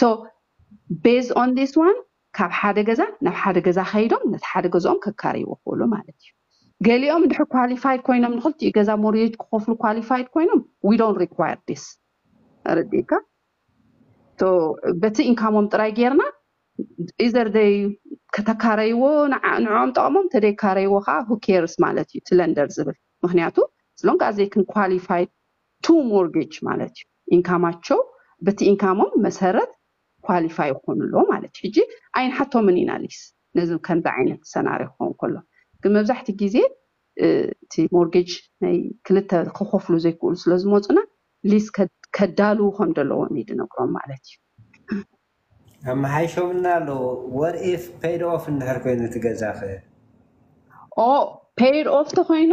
so based on this one ካብ ሓደ ገዛ ናብ ሓደ ገዛ ከይዶም ነቲ ሓደ ገዝኦም ከካርይዎ ክእሉ ማለት እዩ ገሊኦም እንድሕር ኳሊፋይድ ኮይኖም ንክልቲኡ ገዛ ሞርጌጅ ክኸፍሉ ኳሊፋይድ ኮይኖም we don't require this ረዲእካ ቶ በቲ ኢንካሞም ጥራይ ጌርና ኢዘር ደይ ከተካረይዎ ንዓ- ንዕኦም ጠቕሞም ተደይካረይዎ ከዓ ሁኬርስ ማለት እዩ ትለንደር ዝብል ምክንያቱ ስሎንግ ኣዘይ ክን ኳሊፋይድ ቱ ሞርጌጅ ማለት እዩ ኢንካማቸው በቲ ኢንካሞም መሰረት ኳሊፋይ ይኮኑ ኣለዉ ማለት እዩ ሕጂ ኣይንሓቶምን ኢና ሊስ ነዚ ከምዚ ዓይነት ሰናርዮ ክኸውን ከሎ ግን መብዛሕቲ ግዜ እቲ ሞርጌጅ ናይ ክልተ ክኸፍሉ ዘይክእሉ ስለ ዝመፁና ሊስ ከዳልዉ ከም ዘለዎም እዩ ድነግሮም ማለት እዩ ኣመሓይሾምልና ኣለዉ ወር ኢፍ ፔይድ ኦፍ እንድሕር ኮይኑ እቲ ገዛኸ ኦ ፔይድ ኦፍ ተኮይኑ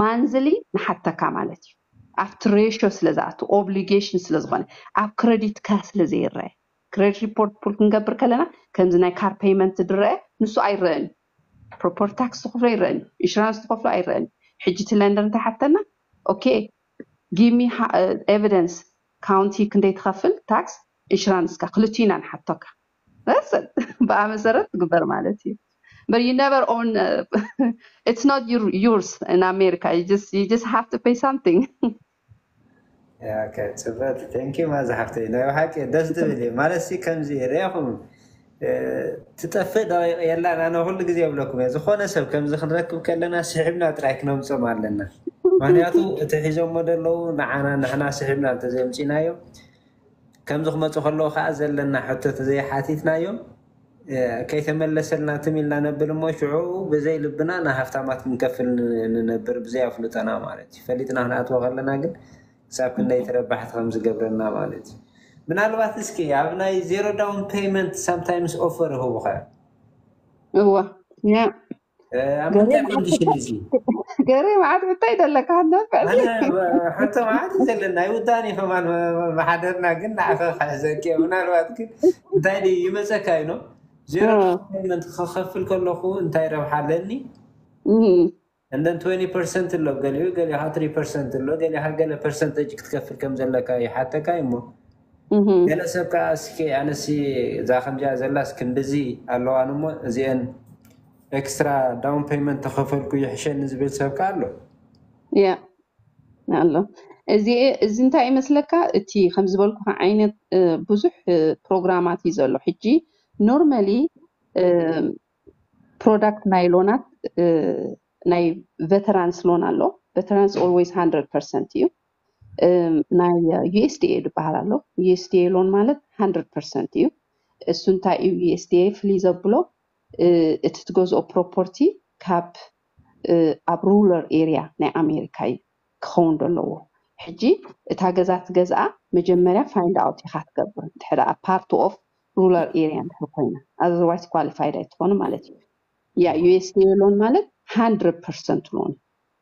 ማንዝሊ ንሓተካ ማለት እዩ ኣብቲ ሬሾ ስለ ዝኣቱ ኦብሊጌሽን ስለ ዝኾነ ኣብ ክረዲትካ ስለ ዘይረኣ ክረዲት ሪፖርት ፑል ክንገብር ከለና ከምዚ ናይ ካር ፔይመንት ዝረአ ንሱ ኣይረእን እዩ ፕሮፐርቲ ታክስ ዝኸፍሎ ኣይረእን እዩ ኢንሹራንስ ዝኸፍሎ ኣይረእን እዩ ሕጂ እቲ ለንደር እንታይ ሓተና ኦኬ ጊሚ ኤቪደንስ ካውንቲ ክንደይ ትኸፍል ታክስ ኢንሹራንስካ ክልቲኡ ኢና ንሓቶካ መሰል ብኣ መሰረት ትግበር ማለት እዩ but you never own it's not your yours in America you just you just have to pay something ፅበት ቴንኪ ማዛ ሓፍተይ ናይ ብሓቂ ደስ ዝብል እዩ ማለት ሲ ከምዚ ርኢኹም ትጠፍእ ደቂቕ የላን ኣነ ኩሉ ግዜ የብለኩም እየ ዝኾነ ሰብ ከምዚ ክንረክብ ከለና ስሒብና ጥራይ ክነምፅኦም ኣለና ምክንያቱ እቲ ሒዞሞ ደለዉ ንዓና ንሕና ስሒብና እንተዘይምፂናዮ ከምዚ ክመፁ ከለዉ ከዓ ዘለና ሕቶ ተዘይሓቲትናዮም ከይተመለሰልና ትም ኢልና ነብል እሞ ሽዑ ብዘይ ልብና ንሃፍታማት ክንከፍል ንነብር ብዘይ ኣፍልጦና ማለት እዩ። ፈሊጥና ክንኣትዎ ከለና ግን ክሳብ ክንደይ ተረባሕቲ ከም ዝገብረና ማለት እዩ። ምናልባት እስኪ ኣብ ናይ ዜሮ ዳውን ፔይመንት ሳምታይምስ ኦፈር ይህቡኻ እዮም። እወ ያ ኣብ ገሬ ምንታይ መዓት ሕቶ ኮንዲሽን እዩ እዚ ገሬ መዓት ሕቶ እዩ ዘለካ ክትነፍዕ ኣነ ሲ ሕቶ መዓት እዩ ዘለና ኣይውዳእን እዩ ከማን መሓደርና ግን ንዓኸ ክሕዘኪ እየ ምናልባት ግን እንታይ ድዩ ይመፀካ እዩ ኖ ዜሮ እ፣ ነጥቢ ፔመንት ክኸፍል ከለኹ እንታይ ረብሓ ኣለኒ እ፣ እንደን 20 ፐርሰንት ኣሎ ገሊኡ ገሊኻ 3 ፐርሰንት ኣሎ ገሊኻ ገለ ፐርሰንተጅ ክትከፍል ከም ዘለካ ይሓተካ እዩ እሞ ገለ ሰብ ከኣ እስኪ ኣነሲ እዛ ከምዚኣ ዘላስ ክንድዚ ኣለዋኒ እሞ እዚኤን ኤክስትራ ዳውን ፔይመንት ተኸፈልኩ ይሕሸኒ ዝብል ሰብ ከኣ ኣሎ። ያ ኣሎ እዚ እዚ እንታይ እዩ መስለካ እቲ ከም ዝበልኩኻ ዓይነት እ፣ ብዙሕ እ፣ ፕሮግራማት እዩ ዘሎ ሕጂ ኖርማሊ ፕሮዳክት ናይ ሎናት እ፣ ናይ ቨተራንስ ሎን ኣሎ ቨተራንስ ኦልዌይስ 100 ፐርሰንት እዩ እም፣ ናይ USDA ዝበሃል ኣሎ። USDA ሎን ማለት 100% እዩ። እሱ እንታይ እዩ USDA ፍልይ ዘብሎ እ፣ እቲ ትገዝኦ ፕሮፖርቲ ካብ እ፣ ኣብ ሩለር ኤሪያ ናይ ኣሜሪካ እዩ ክኸውን ዘለዎ። ሕጂ እታ ገዛ ትገዝኣ መጀመርያ ፋይንድ ኣውት ኢኻ ትገብር እንድሕር ደኣ ፓርት ኦፍ ሩለር ኤሪያ እንድሕር ኮይና ኣዘርዋይስ ኳሊፋይድ ኣይትኾኑ ማለት እዩ። ያ USDA ሎን ማለት 100% ሎን እዩ።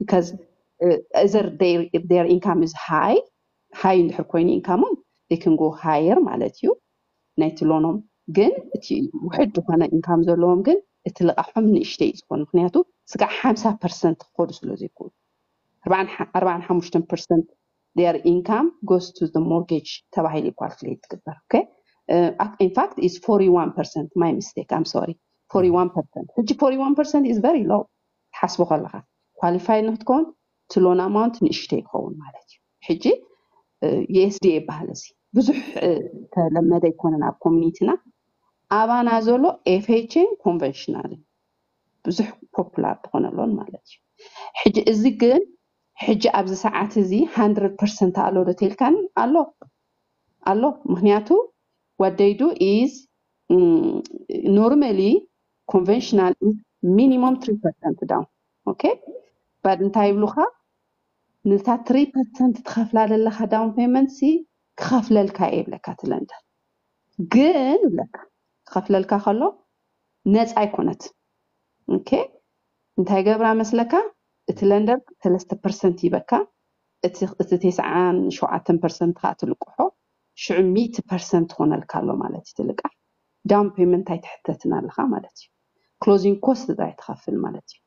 because either they their income is high high እንድሕር ኮይኑ ኢንካሞም they can go higher ማለት እዩ ናይቲ ሎኖም ግን እቲ ውሕድ ዝኾነ ኢንካም ዘለዎም ግን እቲ ልቓሖም ንእሽተይ እዩ ዝኾን ምክንያቱ ስጋዕ ሓምሳ ፐርሰንት ክኸዱ ስለ ዘይክእሉ ኣርባዓን ሓሙሽተን ፐርሰንት their income goes to the mortgage ተባሂሉ እዩ ኳልኩሌት ትግበር ኦኬ ኢንፋክት ኢዝ 41 ፐርሰንት ማይ ሚስቴክ ኣም ሶሪ 41 ፐርሰንት ሕጂ 41 ፐርሰንት ኢዝ ቨሪ ሎው ክትሓስቦ ከለኻ ኳሊፋይ ንክትከውን እቲ ሎን ኣማውንት ንእሽተይ ይኸውን ማለት እዩ ሕጂ USDA ይበሃል እዚ ብዙሕ ተለመደ ኣይኮነን ኣብ ኮሚኒቲና ኣባና ዘሎ ኤፍኤችን ኮንቨንሽናልን ብዙሕ ፖፑላር ዝኾነ ሎን ማለት እዩ ሕጂ እዚ ግን ሕጂ ኣብዚ ሰዓት እዚ 100 ፐርሰንት ኣሎ ዶ ተልካኒ ኣሎ ኣሎ ምክንያቱ what they do is ኖርማሊ ኮንቨንሽናል ኢዝ ሚኒሞም ትሪ ፐርሰንት ዳውን ኦኬ ባድ እንታይ ይብሉካ ነታ ትሪ ፐርሰንት ትኸፍላ ዘለካ ዳውን ፔመንት ሲ ክኸፍለልካ እየ ይብለካ እቲ ለንደር ግን ይብለካ ክኸፍለልካ ከሎ ነፃ ኣይኮነት ኦኬ እንታይ ገብራ መስለካ እቲ ለንደር ሰለስተ ፐርሰንት ይበካ እቲ እቲ ቴስዓን ሸውዓተን ፐርሰንት ከዓ ትልቅሖ ሽዑ ሚእቲ ፐርሰንት ትኾነልካ ኣሎ ማለት እዩ ትልቃሕ ዳውን ፔመንት ኣይትሕተትን ኣለኻ ማለት እዩ ክሎዚንግ ኮስት ጥራይ ትኸፍል ማለት እዩ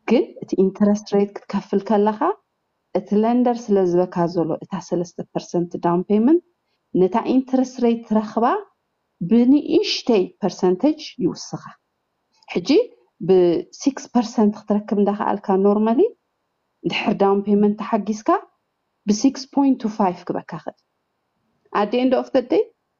ግን እቲ ኢንተረስት ሬት ክትከፍል ከለኻ እቲ ለንደር ስለ ዝበካ ዘሎ እታ ሰለስተ ፐርሰንት ዳውን ፔመንት ነታ ኢንተረስት ሬት ትረኽባ ብንእሽተይ ፐርሰንተጅ ይውስኻ ሕጂ ብሲክስ ፐርሰንት ክትረክብ እንዳኸኣልካ ኖርማሊ ድሕር ዳውን ፔመንት ተሓጊዝካ ብሲክስ ፖይንት ቱ ፋይቭ ክበካ ክእል ኣደ ኤንድ ኦፍ ደይ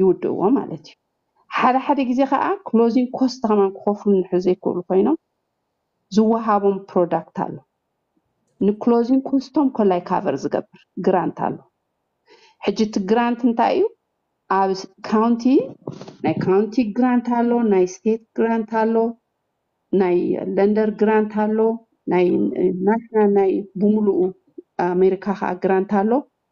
ይውድእዎ ማለት እዩ። ሓደ ሓደ ግዜ ከኣ ክሎዚንግ ኮስት ከማን ክኸፍሉ እንድሕር ዘይክእሉ ኮይኖም ዝወሃቦም ፕሮዳክት ኣሎ። ንክሎዚንግ ኮስቶም ኮላይ ካቨር ዝገብር ግራንት ኣሎ። ሕጂ እቲ ግራንት እንታይ እዩ? ኣብ ካውንቲ ናይ ካውንቲ ግራንት ኣሎ፣ ናይ ስቴት ግራንት ኣሎ፣ ናይ ለንደር ግራንት ኣሎ፣ ናይ ናሽናል ናይ ብምሉኡ ኣሜሪካ ከዓ ግራንት ኣሎ።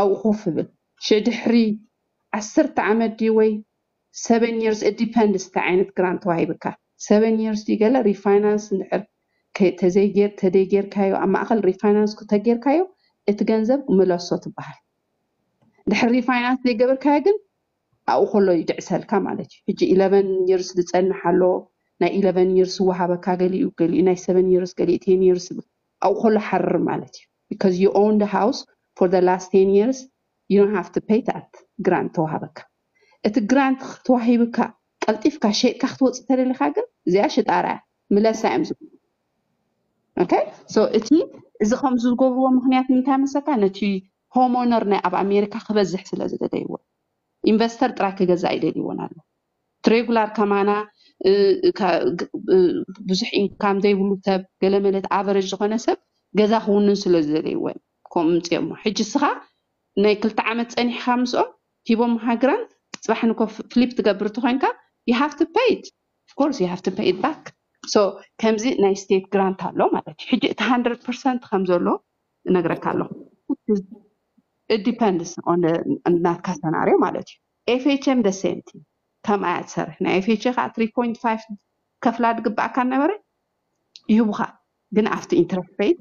ኣብኡ ኮፍ እብል ሸድሕሪ ዓሰርተ ዓመት ድዩ ወይ ሰቨን ይርስ ኢት ዲፐንድስ እንታይ ዓይነት ግራንት ተዋሂብካ ሰቨን ይርስ ድዩ ገለ ሪፋይናንስ እንድሕር ተደይጌርካዮ ኣብ ማእኸል ሪፋይናንስ ክተጌርካዮ እቲ ገንዘብ ምለሶ ትበሃል ድሕሪ ሪፋይናንስ ዘይገበርካዮ ግን ኣብኡ ከሎ ይድዕሰልካ ማለት እዩ ሕጂ ኢለቨን ይርስ ዝፀንሕ ኣሎ ናይ ኢለቨን ይርስ ዝወሃበካ ገሊኡ ገሊኡ ናይ ሰቨን ይርስ ገሊኡ ቴን ይርስ ይብል ኣብኡ ከሎ ሓርር ማለት እዩ because you own the house for the last ten years you don't have to pay that grant ተዋሃበካ እቲ grant ተዋሂብካ ቀልጢፍካ ሸይጥካ ክትወፅእ ተደሊካ ግን እዚኣ ሽጣራ እያ ምለሳ እዮም ዝብሉ ኦኬ ሶ እቲ እዚ ከምዚ ዝገብርዎ ምክንያት እንታይ መሰልካ ነቲ ሆሞነር ናይ ኣብ ኣሜሪካ ክበዝሕ ስለ ዝደለይዎ ኢንቨስተር ጥራይ ክገዛእ ይደልይዎን ኣሎ ትሬጉላር ከማና ብዙሕ ኢንካም ዘይብሉ ሰብ ገለመለት ኣቨረጅ ዝኾነ ሰብ ገዛ ክውንን ስለ ዝደለይዎ እዮም ከምኡ ምፅኦሞ ሕጂ እስኻ ናይ ክልተ ዓመት ፀኒሕኻ ምስኦም ሂቦምኻ ግራንት ፅባሕ ንኮ ፍሊፕ ትገብር ተኮይንካ you have to pay it of course you have to pay it back so ከምዚ ናይ ስቴት ግራንት ኣሎ ማለት እዩ ሕጂ እቲ 100 ፐርሰንት ከም ዘሎ እነግረካ ኣለኹ it depends on the ናትካ ሰናርዮ ማለት እዩ ኤፍኤቸም the same thing ከምኣ እያ ትሰርሕ ናይ ኤፍኤቸ ከኣ three point five ክትከፍላ ድግበኣካ ነበረ ይህቡካ ግን ኣብቲ ኢንተረስት ረይት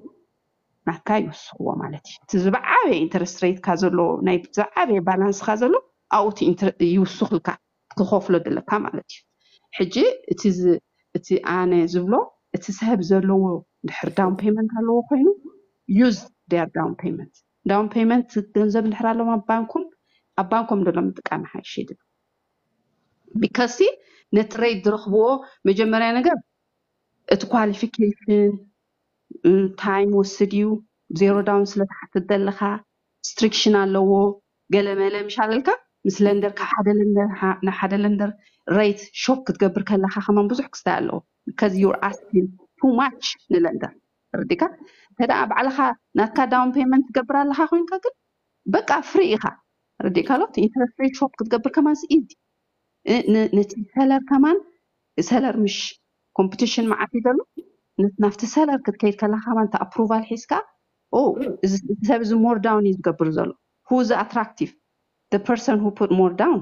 ናትካ ይውስኽዎ ማለት እዩ እቲ ዝበዓበየ ኢንተረስት ረይትካ ዘሎ ናይ ዝዓበየ ባላንስካ ዘሎ ኣብኡ እቲ ኢንተረ- ይውስኽልካ ትኸፍሎ ዘለካ ማለት እዩ ሕጂ እቲ ዝ- እቲ ኣነ ዝብሎ እቲ ሰብ ዘለዎ ድሕር ዳውን ፔመንት ኣለዎ ኮይኑ ዩዝ ዴር ዳውን ፔመንት ዳውን ፔመንት ገንዘብ እንድሕር ኣሎም ኣብ ባንኩም ኣብ ባንኮም ደሎ ምጥቃም ይሓይሽ ይብል ቢካሲ ነቲ ረይት ዝረኽብዎ መጀመርያ ነገር እቲ ኳሊፊኬሽን ታይም ወስድ እዩ ዜሮ ዳውን ስለትሓትት ዘለኻ ስትሪክሽን ኣለዎ ገለ መለ ምሻለልካ ምስ ለንደር ካብ ሓደ ለንደር ናብ ሓደ ለንደር ረይት ሾፕ ክትገብር ከለካ ከማን ብዙሕ ክስታይ ኣለዎ ከዚ ዩር ኣስኪን ቱ ማች ንለንደር ተረዲእካ እንተ ባዕልካ ናትካ ዳውን ፔመንት ትገብር ኣለካ ኮይንካ ግን በቃ ፍሪ ኢካ ረዲእካ ሎ ኢንተረስት ሬት ሾፕ ክትገብር ከማን ኢዚ ነቲ ሰለር ከማን ሰለር ምሽ ኮምፕቲሽን መዓት እዩ ዘሎ ናብቲ ሰለር ክትከይድ ከለካ ከማን እቲ ኣፕሩቫል ሒዝካ ኦ እዚ ሰብ እዚ ሞር ዳውን እዩ ዝገብር ዘሎ ሁ እዚ ኣትራክቲቭ ፐርሰን ሁ ፑት ሞር ዳውን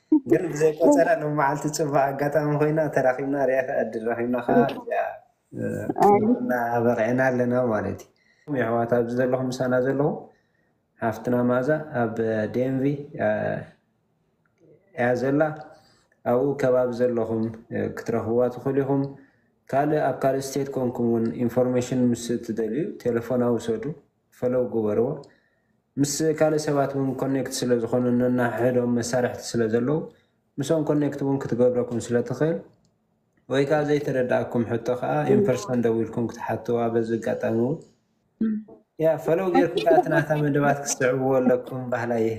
ግን ብዘይ ቆጸራ ሎሚ መዓልቲ ጽቡቅ ኣጋጣሚ ኮይና ተራኪብና ሪኣካ ዕድል ረኪብና ከኣ እዚኣ እና በቂዕና ኣለና ማለት እዩ የሕዋት ኣብዚ ዘለኹም ምሳና ዘለኹም ሓፍትና መኣዛ ኣብ ዴንቪ እያ ዘላ ኣብኡ ከባቢ ዘለኹም ክትረኽብዋ ትኽእሉ ኢኹም ካልእ ኣብ ካልእ ስቴት ኮንኩም እውን ኢንፎርሜሽን ምስ እትደልዩ ቴሌፎና ውሰዱ ፈለው ግበርዎ ምስ ካልእ ሰባት ውን ኮኔክት ስለ ዝኾኑ ነንሕሕዶም መሳርሕቲ ስለ ዘለው ምስኦም ኮኔክት ውን ክትገብረኩም ስለ ትኽእል ወይ ከኣ ዘይተረደኣኩም ሕቶ ከኣ ን ፐርሰን ደዊልኩም ክትሓትዋ በዚ ኣጋጣሚ ውን ፈለው ጌርኩም ከኣ እቲ ናታ መደባት ክትስዕብዎ ኣለኩም በሃላይ እየ።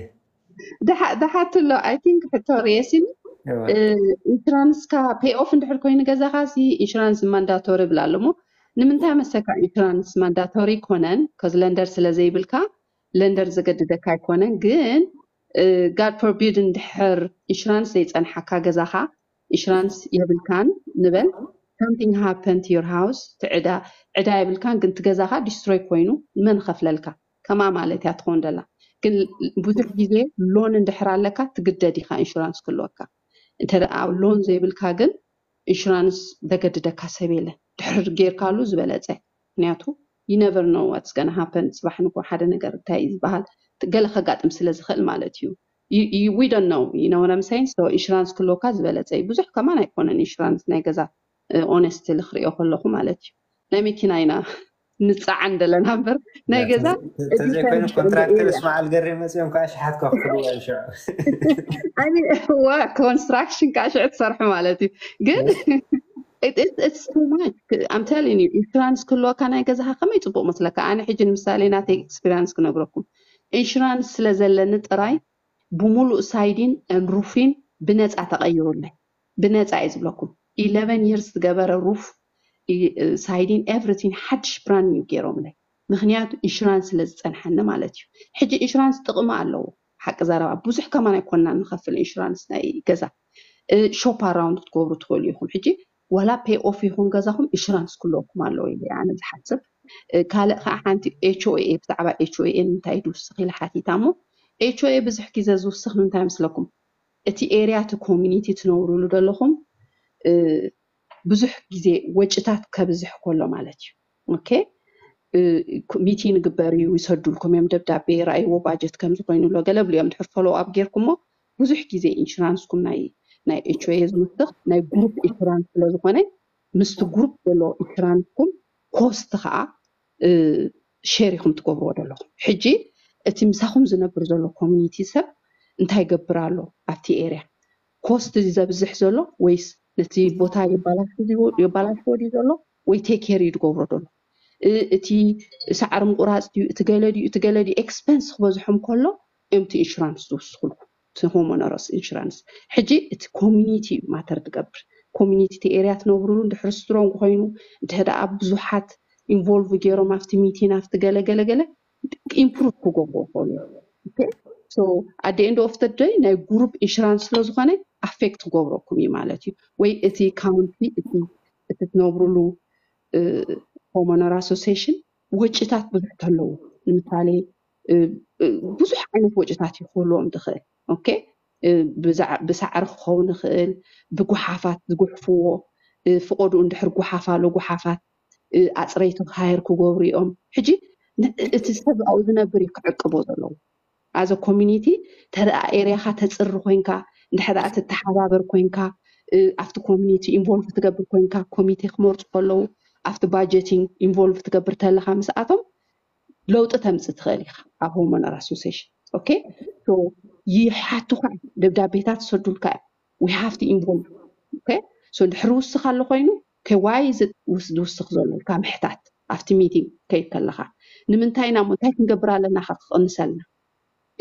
ደሓ- ደሓቲ ኣሎ ኣይ ቲንክ ሕቶ ርየሲን እወ ኢንሹራንስካ ፔይ ኦፍ እንድሕር ኮይኑ ገዛኻ ሲ ኢንሹራንስ ማንዳቶሪ ይብል ኣሎ እሞ ንምንታይ መሰካ ኢንሹራንስ ማንዳቶሪ ኣይኮነን ከዚ ለንደር ስለ ዘይብልካ ለንደር ዘገድደካ ኣይኮነን ግን ጋድ ፎርቢድ እንድሕር ኢንሹራንስ ዘይፀንሓካ ገዛኻ ኢንሹራንስ የብልካን ንበል something happened to your house እቲ ዕዳ ዕዳ የብልካን ግን እቲ ገዛኻ ዲስትሮይ ኮይኑ መን ኸፍለልካ ከማ ማለት እያ ትኮን ደላ ግን ብዙሕ ግዜ ሎን እንድሕር ኣለካ ትግደድ ኢካ ኢንሹራንስ ክህልወካ እንተ ሎን ዘይብልካ ግን ኢንሹራንስ ዘገድደካ ሰብ የለን ድሕር ጌርካሉ ዝበለፀ ምክንያቱ you never know what's gonna happen ጽባሕ ንግሆ ሓደ ነገር እንታይ እዩ ዝበሃል ገለ ከጋጥም ስለ ዝኽእል ማለት እዩ you- you- we don't know you know what I'm saying so ኢንሹራንስ ክህልወካ ዝበለጸ እዩ ብዙሕ ከማን ኣይኮነን ኢንሹራንስ ናይ ገዛ ኦነስትሊ ክሪኦ ከለኹ ማለት እዩ ናይ መኪና ኢና ንፀዓን ደለና እምበር ናይ ገዛ ተዘይኮይኑ ኮንትራክተር እስማዓል ገሬ መፅኦም ከዓ ሸሓት ከክፍልዎ እዮም ሽዑ ኮንስትራክሽን ከዓ ሽዑ ትሰርሑ ማለት እዩ ግን ኣምተሊን እዩ ኢንሹራንስ ክህልወካ ናይ ገዛኻ ከመይ ፅቡቅ መስለካ ኣነ ሕጂ ንምሳሌ ናተይ ኤክስፒሪንስ ክነግረኩም ኢንሹራንስ ስለ ዘለኒ ጥራይ ብሙሉእ ሳይዲን ሩፊን ብነፃ ተቀይሩለይ ብነፃ እየ ዝብለኩም ኢለቨን ይርስ ዝገበረ ሩፍ ሳይዲን ኤቭሪቲን ሓድሽ ብራንድ ኒው ገይሮምለይ ምክንያቱ ኢንሹራንስ ስለ ዝፀንሓኒ ማለት እዩ ሕጂ ኢንሹራንስ ጥቅሚ ኣለዎ ሓቂ ዘረባ ብዙሕ ከማን ኣይኮናን ንከፍል ኢንሹራንስ ናይ ገዛ ሾፕ ኣራውንድ ክትገብሩ ትክእሉ ኢኩም ሕጂ ዋላ ፔይ ኦፍ ይኩን ገዛኩም ኢንሹራንስ ክለወኩም ኣለዎ ኢለ ኣነ ዝሓስብ ካልእ ከዓ ሓንቲ ኤችኦኤ ብዛዕባ ኤችኦኤ እንታይ ድውስክ ኢለ ሓቲታ እሞ ኤችኦኤ ብዙሕ ግዜ ዝውስክ ምንታይ መስለኩም እቲ ኤርያ እቲ ኮሚኒቲ ትነብሩሉ ደለኹም ብዙሕ ግዜ ወጭታት ከብዝሕ ኮሎ ማለት እዩ ኦኬ ሚቲን ግበር እዩ ይሰዱልኩም እዮም ደብዳቤ ራእይዎ ባጀት ከምዚ ኮይኑ ኣሎ ገለ ብሉ እዮም ድሕር ፎሎው ኣብ ጌርኩሞ ብዙሕ ግዜ ኢንሹራንስኩም ናይ ናይ ኤችኦኤ ዝምስኽ ናይ ግሩፕ ኢንሹራንስ ስለ ዝኾነ ምስቲ ግሩፕ ዘሎ ኢንሹራንስኩም ኮስት ከዓ ሼር ኢኩም ትገብርዎ ዘለኩም ሕጂ እቲ ምሳኩም ዝነብር ዘሎ ኮሚኒቲ ሰብ እንታይ ይገብር ኣሎ ኣብቲ ኤርያ ኮስት ድዩ ዘብዝሕ ዘሎ ወይስ ነቲ ቦታ የባላሹ ድዩ የባላሽዎ ድዩ ዘሎ ወይ ቴክ ኬር እዩ ዝገብሮ ዘሎ እ እቲ ሳዕሪ ምቁራፅ ድዩ እቲ ገለ ድዩ እቲ ገለ ድዩ ኤክስፐንስ ክበዝሖም ከሎ እዮም እቲ ኢንሹራንስ ዝውስኩልኩም እቲ ሆሞነሮስ ኢንሹራንስ ሕጂ እቲ ኮሚኒቲ እዩ ማተር ትገብር ኮሚኒቲ እቲ ኤርያ ትነብሩሉ ድሕሪ ስትሮንግ ኮይኑ እንተደኣ ብዙሓት ኢንቮልቭ ገይሮም ኣብቲ ሚቲን ኣብቲ ገለ ገለ ገለ ኢምፕሩቭ ክገብሩ ይኽእሉ ኦኬ ሶ ኣደ ኤንድ ኦፍ ደ ደይ ናይ ጉሩፕ ኢንሹራንስ ስለ ዝኾነ ኣፌክት ክገብረኩም እዩ ማለት እዩ ወይ እቲ ካውንቲ እቲ እቲ ትነብሩሉ ሆሞነር ኣሶሲሽን ወጪታት ብዙሕ ተለዉ ንምሳሌ ብዙሕ ዓይነት ወጪታት እዩ ክህልዎም ዝኽእል ኦኬ ብሳዕሪ ክኸውን ይኽእል ብጉሓፋት ዝጉሕፍዎ ፍቆድኡ እንድሕር ጉሓፋ ኣሎ ጉሓፋት ኣፅረይቲ ሃየር ክገብሩ እዮም ሕጂ እቲ ሰብ ኣብኡ ዝነብር እዩ ክዕቅቦ ዘለዎ ኣዘ ኮሚኒቲ ተደኣ ኤርያኻ ተፅሪ ኮንካ እንድሕር ትተሓባበር ኮንካ ኣብቲ ኮሚኒቲ ኢንቮልቭ ትገብር ኮንካ ኮሚቴ ክመርፁ ከለዉ ኣብቲ ባጀቲንግ ኢንቮልቭ ትገብር ተለካ ምስኣቶም ለውጢ ተምፅ ትኽእል ኢኻ ኣብ ሆርሞናል ኣሶሴሽን ኦኬ ሶ ይሓቱኻ እዮም ደብዳቤታት ይሰዱልካ እዮም ዊ ሃቭ ቱ ኢንቮልቭ ኦኬ ሶ ድሕሪ ውስኽ ኣሎ ኮይኑ ኦኬ ዋይ እዚ ውስ- ዝውስኽ ዘሎ ኢልካ ምሕታት ኣብቲ ሚቲንግ ከይድ ከለኻ ንምንታይ ኢና እሞ እንታይ ክንገብር ኣለና ከ ክቕንሰልና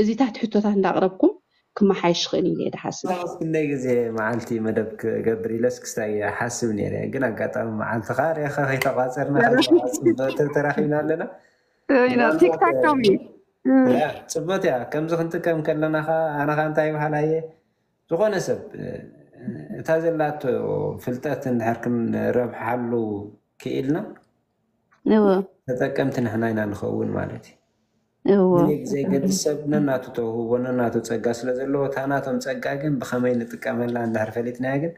እዚታት ሕቶታት እንዳቅረብኩም ክመሓየሽ ይኽእል ኢለ እየ ድሓስብ። ኣነስ ክንደይ ግዜ መዓልቲ መደብ ክገብር ኢለስ ክስታይ እየ ሓስብ ነይረ ግን ኣጋጣሚ መዓልትኻ ሪእኻ ከይተቛጸርና ከይተቋ ጽብቕቲ ተራኺብና ኣለና ምናልባት እያ ጽብቕቲ እያ ከምዚ ክንጥቀም ከለና ኸኣ ኣነ ኸኣ እንታይ ይብሃል ኣየ ዝኾነ ሰብ እታ ዘላቶ ፍልጠት እንድሕር ክንረብሓሉ ክኢልና እወ ተጠቀምቲ ንሕና ኢና ንኸውን ማለት እዩ። እዎ ምኒልክ ዘይገድስ ሰብ ነናቱ ተውህቦ ነናቱ ጸጋ ስለ ዘለዎ እታ ናቶም ጸጋ ግን ብኸመይ ንጥቀመላ እንድሕር ፈሊጥናያ ግን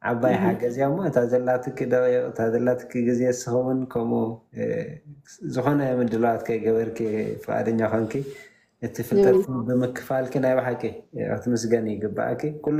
ዓባይ ሓገዝ እያ እሞ እታ ዘላትኪ ደቒቕ እታ ዘላትኪ ግዜ ንስኺ እውን ከምኡ ዝኾነ ምድላዋት ከይገበርኪ ፍቓደኛ ኮንኪ እቲ ፍልጠትኪ ብምክፋልኪ ናይ ብሓቂ ክትምስገኒ ይግባኣኪ ኩሉ